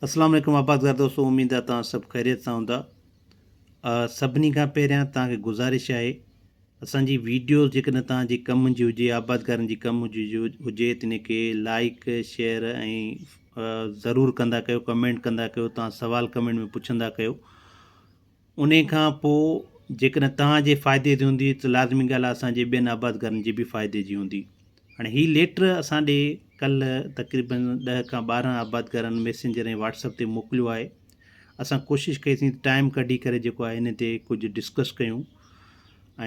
اسلام عليڪم آبادگار دوستو اميد آ توهان سڀ خيريت سان هوندا سڀني کان پهريان توهان کي گذارش آهي اسان جي ويڊيوز جيڪڏهن توهان جي ڪم جي هجي آبادگارن جي ڪم جي هجي ته ان کي لائيڪ شيئر ۽ ضرور ڪندا ڪيو ڪمينٽ ڪندا ڪيو توهان سوال ڪمينٽ ۾ پڇندا ڪيو انهيء کان پوء جيڪڏهن توهان جي فائدي جي هوندي ته لازمي ڳالهه آهي اسان جي ٻين آبادگارن جي به فائدي جي هوندي. هاڻي هي ليٽر اسان ڏي ڪلهه تقريباً ڏهه کان ٻارهن آبادگارن ميسينجر ۽ واٽس اپ تي موڪليو آهي. اسان ڪوشش ڪئي سين ته ٽائيم ڪڍي ڪري جيڪو آهي انهيء تي ڪجهه ڊسڪس ڪيون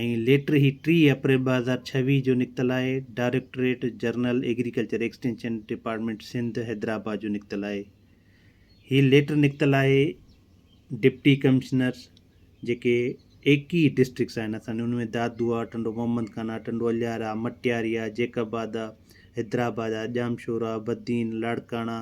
۽ ليٽر هي ٽيهه اپريل ٻه هزار ڇويهه جو نڪتل آهي. Directorate general agriculture extension department Sindh Hyderabad جو نڪتل آهي. هي ليٽر نڪتل آهي ڊپٽي ڪمشنر جيڪي ايڪيهه ڊسٽرڪس آهن اسان ان ۾ دادو آ، ٽنڊو محمد خان آ، ٽنڊو الهيار آ، مٽياري آ، جيڪب آباد آ، حيدرآباد آ، ڄامشور آ، بدين، لاڙڪاڻا،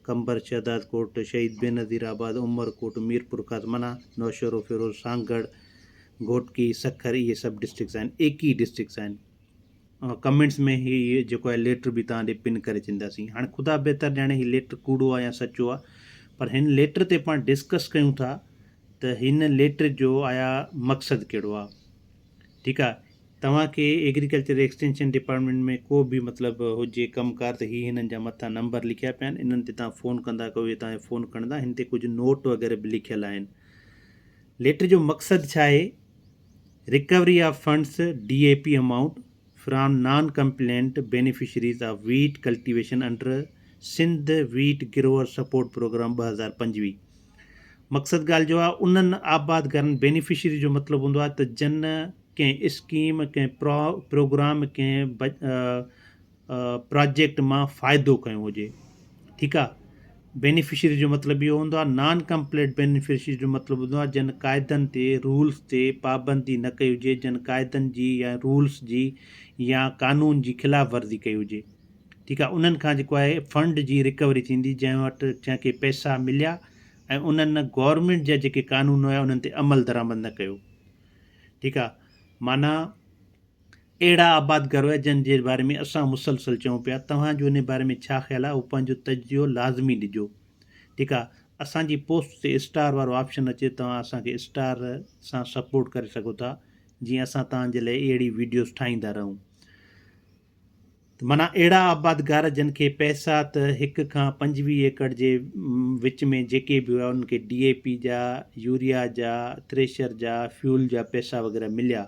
قمبر، شهداد ڪوٽ، شهيد بينظير آباد، عمر ڪوٽ، ميرپورخاص منا، نوشهروفيروز، سانگهڙ، گهوٽڪي، سکر اهي سڀ ڊسٽرڪس آهن ايڪيهه ڊسٽرڪس آهن. ڪمينٽس ۾ هي جيڪو آهي ليٽر به توهان ڏي پن ڪري ڇڏينداسين هاڻي خدا بهتر ڄاڻي هي ليٽر ڪوڙو آهي يا سچو آهي پر هن ليٽر تي پاڻ ڊسڪس ڪيون ٿا ته هن ليٽر جو آيا مقصد ڪهڙو آهي ٺيڪ آهي توهان کي ايگريڪلچر ايڪسٽينشن ڊپارٽمنٽ ۾ ڪو به مطلب هجي ڪم ڪار ته هي هنن جا مٿان نمبر لکيا پيا آهن انهن تي توهان فون ڪندا ڪو اهي توهان فون کڻندا هن تي ڪجهه نوٽ وغيره به لکيل آهن ليٽر جو مقصد ڇا آهي recovery of funds, D A P amount, from non compliant beneficiaries of wheat cultivation under Sindh wheat grower support programme ٻه هزار پنجويهه مقصد ڳالهه جو آ انهن آبادگارن بينيفشريز جو مطلب هوندو آ ته جن ڪنهن اسڪيم ڪنهن پرو پروگرام ڪنهن پراجيڪٽ مان فائدو کنيو هجي ٺيڪ آ بينيفشري جو مطلب اهو هوندو آ نان ڪمپليٽ بينيفشري جو مطلب هوندو آ جن قاعدن تي رولس تي پابندي نه ڪئي هجي جن قاعدن جي يا رولس جي يا قانون جي خلاف ورزي ڪئي هجي ٺيڪ آ انهن کان جيڪو آهي فنڊ جي رڪوري ٿيندي جنهن وٽ جنهن کي پئسا مليا ۽ انهن گورنمينٽ جا جيڪي قانون هيا انهن تي عمل درآمد نه ڪيو ٺيڪ آ معنيٰ اهڙا آباد گروهه جن جي باري ۾ اسان مسلسل چئون پيا توهان جو ان باري ۾ ڇا خيال آهي اهو پنهنجو تجزيو لازمي ڏجو جيڪا اسان جي پوسٽ تي اسٽار وارو آپشن اچي توهان اسان کي اسٽار سان سپورٽ ڪري سگهو ٿا جيئن اسان توهان جي لاء اهڙي ويڊيوز ٺاهيندا رهون. معنيٰ اهڙا آبادگار جن کي پئسا ته هڪ کان پنجويهه ايڪڙ جي وچ ۾ جيڪي به هيا انهن کي ڊي اي پي جا، يوريا جا، ٿريشر جا، فيول جا پئسا وغيره مليا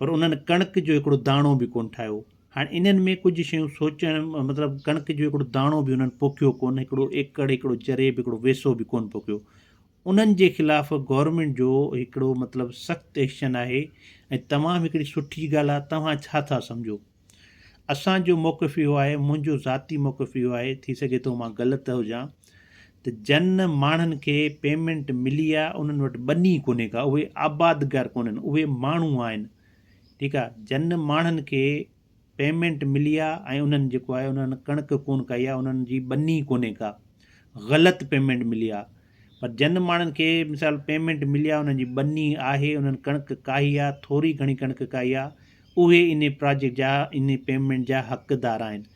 پر انهن ڪڻڪ جو هڪڙو داڻو به ڪونه ٺاهيو. هاڻ انهن ۾ ڪجهه شيون سوچڻ مطلب ڪڻڪ جو هڪڙو داڻو به انهن پوکيو ڪونه، هڪڙو ايڪڙ، هڪڙو جريب، هڪڙو ويسو به ڪونه پوکيو. انهن جي خلاف گورنمينٽ جو هڪڙو مطلب سخت ايڪشن آهي ۽ تمام هڪڙي سٺي ڳالهه آهي، توهان ڇا ٿا سمجهو؟ اسان جو موقف اهو آهي، منهنجو ذاتي موقف اهو آهي، ٿي سگهي ٿو مان غلط هجان، ته جن ماڻهن کي پيمينٽ ملي آهي انهن وٽ ٻني ڪونهي ڪا، اهي آبادگار ڪونهن، اهي ماڻهو آهن، ٺيڪ آهي، جن ماڻهن کي پيمينٽ ملي آهي ۽ انهن جيڪو آهي انهن ڪڻڪ ڪونه ڪئي آهي، انهن جي ٻني ڪونهي ڪا، غلط پيمينٽ ملي آهي. پر جن ماڻهن کي مثال پيمينٽ ملي آ انهن جي ٻني آهي انهن ڪڻڪ ڪاهي آ ٿوري گهڻي ڪڻڪ ڪاهي آ اهي انهي پراجيڪٽ جا انهي پيمينٽ جا حقدار آهن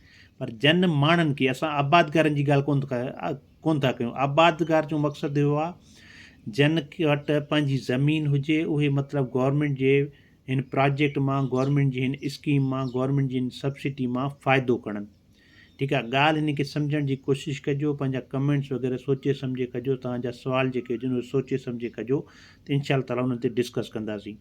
پر جن ماڻهن کي اسان آبادگارن جي ڳالهه ڪونه ڪونه ٿا ڪيون آبادگار جو مقصد اهو آ جن وٽ پنهنجي زمين هجي اهي مطلب گورنمينٽ جي هن پراجيڪٽ مان گورنمينٽ جي هن اسڪيم مان گورنمينٽ جي هن سبسڊي مان فائدو کڻن ٺيڪ آ ڳالهه هن کي سمجهڻ جي ڪوشش ڪجو پنهنجا ڪمينٽس وغيره سوچي سمجهي ڪجو توهان جا سوال جيڪي هجن اهي سوچي سمجهي ڪجو ته انشاء الله تعالي انهن تي ڊسڪس ڪنداسين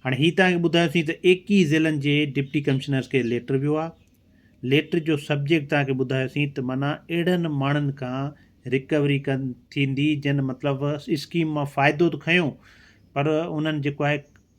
هاڻي هي توهان کي ٻڌايوسين ته ايڪيهه ضلعن جي ڊپٽي ڪمشنرس کي ليٽر ويو آهي ليٽر جو سبجيڪٽ توهان کي ٻڌايوسين ته معنيٰ اهڙن ماڻهن کان رڪوري ڪن ٿيندي جن مطلب اسڪيم مان فائدو ته کنيو پر انهن جيڪو آهي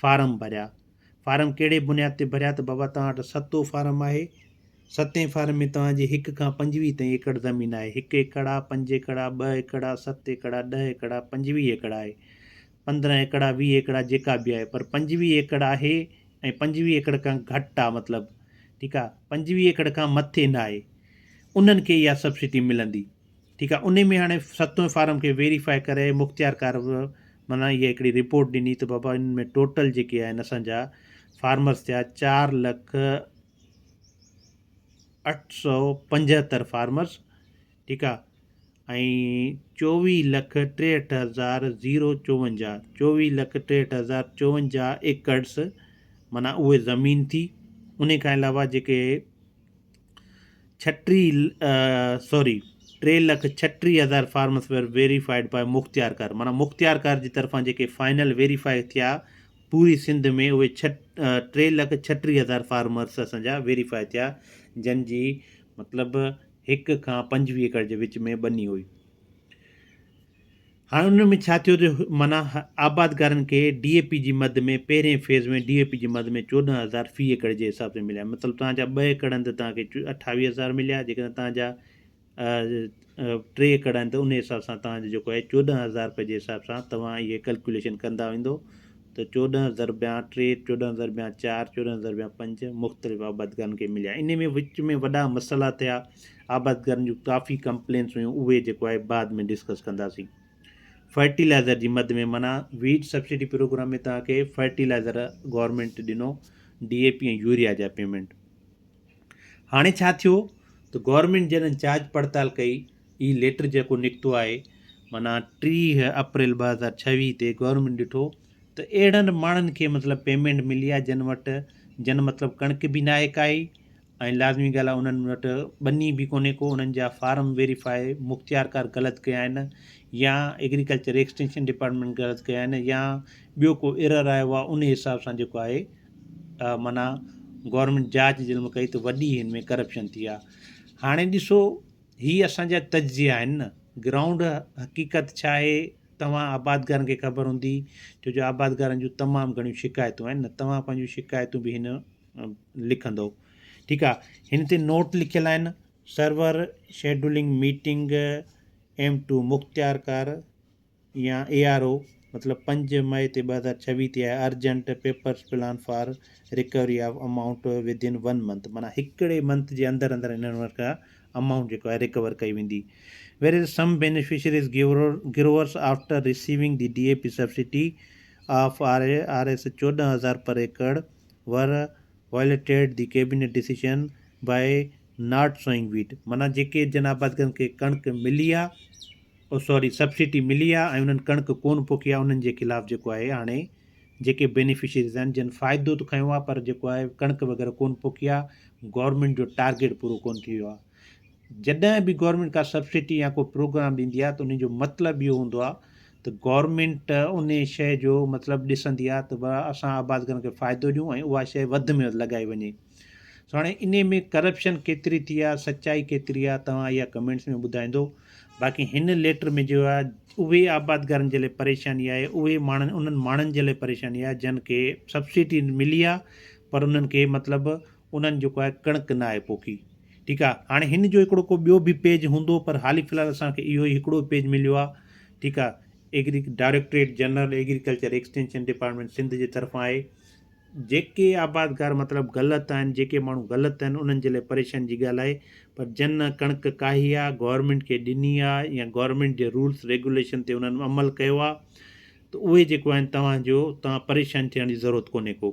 فارم ڀريا، فارم ڪهڙي بنياد تي ڀريا ته بابا توهان وٽ ستو فارم آهي، ستين فارم ۾ توهان جي هڪ کان پنجويهه تائين ايڪڙ زمين آهي، هڪ ايڪڙ آ، پنج ايڪڙ آ، ٻه ايڪڙ آ، ست ايڪڙ آ، ڏهه ايڪڙ آ، پنجويهه ايڪڙ آهي، پندرهن ايڪڙ آ، ويهه ايڪڙ آ، جيڪا به آهي پر پنجويهه ايڪڙ آهي ۽ پنجويهه ايڪڙ کان گهٽ آ مطلب ٺيڪ آ، پنجويهه ايڪڙ کان مٿي نه آهي انهن کي اها سبسڊي ملندي. ٺيڪ آ انهي ۾ هاڻي ستون فارم کي ويريفائي ڪري مختيار ڪار به معنيٰ اها هڪڙي رپورٽ ڏني ته بابا ان ۾ ٽوٽل جيڪي آهن اسان جا فارمرس ٿيا چار لک اٺ سو پنجهتر فارمرس ٺيڪ آ چوويهه لک ٽيهٺ هزار زيرو چوونجاهه چوويهه لک ٽيهٺ هزار چوونجاهه ايڪڙس معنيٰ اهي زمين ٿي انهي کان علاوه جيڪي ڇٽيهه سوري ٽي لک ڇٽيهه هزار farms were verified by Mukhtiarkar مانا مختيار ڪار جي طرفان جيڪي فائنل ويريفائي ٿيا پوري سنڌ ۾ اهي ڇ ٽي لک ڇٽيهه هزار فارمرس اسانجا ويريفائي ٿيا جن جي مطلب هڪ کان پنجويهه ايڪڙ جي وچ ۾ ٻني هئي هاڻ انهن ۾ ڇا ٿيو جو معنيٰ آبادگارن کي ڊي اي پي جي مد ۾ پهرين فيز ۾ ڊي اي پي جي مد ۾ چوڏهن هزار في ايڪڙ جي حساب سان مليا مطلب توهان جا ٻه ايڪڙ آهن ته توهان کي اٺاويهه هزار مليا جيڪڏهن توهان جا ٽي ايڪڙ آهن ته ان حساب سان توهان جو جيڪو آهي چوڏهن هزار روپئي جي حساب سان توهان اهي ڪلڪوليشن ڪندا ويندو ته چوڏهن ضربيا ٽي چوڏهن ضربيا چار چوڏهن ضربيا پنج مختلف آبادگارن کي مليا ان ۾ وچ ۾ وڏا مسئلا ٿيا آبادگارن جون ڪافي ڪمپلينس هيون اهي جيڪو آهي بعد ۾ ڊسڪس ڪنداسين فرٽيلائزر جي مد ۾ منا ويٽ سبسڊي پروگرام ۾ تان کي فرٽيلائزر گورنمنٽ ڏنو ڊي اي پي ۽ يوريا جا پيمنٽ هاڻي ڇا ٿيو ته گورنمنٽ جڏهن جاچ پڙتال ڪئي هي ليٽر جيڪو نڪتو آهي منا ٽيهه اپريل ٻه هزار ڇويهه تي گورنمنٽ ڏٺو ته اهڙن ماڻهن کي مطلب پيمنٽ ملي آهي جن وٽ جن مطلب ڪڻڪ به ناهي ڪائي ۽ لازمي ڳالهه آهي انهن وٽ ٻني به ڪونهي ڪو انهن جا فارم ويريفاء مختيارڪار غلط ڪيا آهن يا ايگريڪلچر ايڪسٽينشن ڊپارٽمينٽ غلط ڪيا آهن يا ٻيو ڪو ايرر آيو آهي ان حساب سان جيڪو آهي معنيٰ گورنمينٽ جاچ ظلم ڪئي ته وڏي هن ۾ ڪرپشن ٿي آهي هاڻي ڏسو هي اسانجا تجزيا آهن نه گرائونڊ حقيقت ڇا آهي توهان آبادگارن کي خبر هوندي ڇو جو آبادگارن جون تمام گهڻيون شڪايتون آهن نه توهان پنهنجون شڪايتون به هن لکندو ٺيڪ آ هن تي نوٽ لکيل آهن server scheduling meeting M two مختيار ڪار يا اي آر او مطلب پنج مئي تي ٻه هزار ڇويهه تي آهي urgent papers plan for recovery of amount within one month مانا هڪڙي منٿ جي اندر اندر هنن وٽ کان امائونٽ جيڪو آهي رڪور ڪئي ويندي where is some beneficiaries growers after receiving the D A P subsidy of R R S چوڏهن هزار per acre were violated the cabinet decision by not sowing wheat معنيٰ جيڪي جن آبادگارن کي ڪڻڪ ملي آ او سوري سبسڊي ملي آ ۽ انهن ڪڻڪ ڪون پوکي آ انهن جي خلاف جيڪو آهي هاڻي جيڪي بينيفشريز آهن جن فائدو ته کنيو آ پر جيڪو آهي ڪڻڪ وغيره ڪون پوکي آ گورنمينٽ جو ٽارگيٽ پورو ڪون ٿي ويو آ جڏهن به گورنمينٽ ڪا سبسڊي يا ڪو پروگرام ڏيندي آهي ته انهي جو مطلب اهو هوندو آهي ته گورنمينٽ انهي شيء جو مطلب ڏسندي آهي ته به اسان آبادگارن کي فائدو ڏيون ۽ اها شيء وڌ ۾ وڌ لڳائي وڃي سو هاڻي انهي ۾ ڪرپشن ڪيتري ٿي آهي سچائي ڪيتري آهي توهان اها ڪمينٽس ۾ ٻڌائيندو باقي هن ليٽر ۾ جو آهي اهي آبادگارن جي لاء پريشاني آهي اهي ماڻهن انهن ماڻهن جي لاء پريشاني آهي جن کي سبسڊي ملي آهي پر انهن کي مطلب انهن جيڪو آهي ڪڻڪ نه آهي پوکي ٺيڪ آ هاڻي هن جو هڪڙو ڪو ٻيو به پيج هوندو پر حالي في الحال اسان کي اهو ئي هڪڙو پيج مليو آ ٺيڪ آ agri directorate general agriculture extension department Sindh جي طرفان آهي جيڪي آبادگار مطلب غلط آهن جيڪي ماڻهو غلط آهن انهن جي لاء پريشان جي ڳالهه آهي پر جن ڪڻڪ ڪاهي آ گورنمينٽ کي ڏني آ يا گورنمينٽ جي رولس ريگوليشن تي انهن عمل ڪيو آ ته اهي جيڪو آهن توهان جو توهان پريشان ٿيڻ جي ضرورت ڪونهي ڪو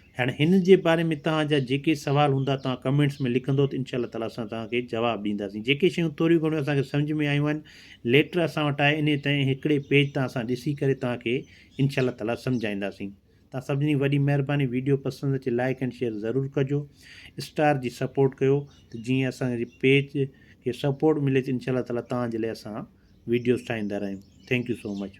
هاڻي هن جي باري ۾ توهان جا جيڪي سوال هوندا توهان ڪمينٽس ۾ لکندو ته انشاء الله تعالي اسان توهان کي جواب ڏينداسين جيڪي شيون ٿوريون گهڻيون اسان کي سمجهه ۾ آيون آهن ليٽر اسان وٽ آهي انهي تئين هڪڙي پيج تان اسان ڏسي ڪري توهان کي انشاء الله تعالي سمجهائينداسين توهان سڀني جي وڏي مهرباني ويڊيو پسند اچي لائيڪ اينڊ شيئر ضرور ڪجو اسٽار جي سپورٽ ڪيو ته جيئن اسان جي پيج کي سپورٽ ملي ته انشاء الله تعالي توهان جي لاء اسان ويڊيوز ٺاهيندا رهيون ٿينڪ يو سو مچ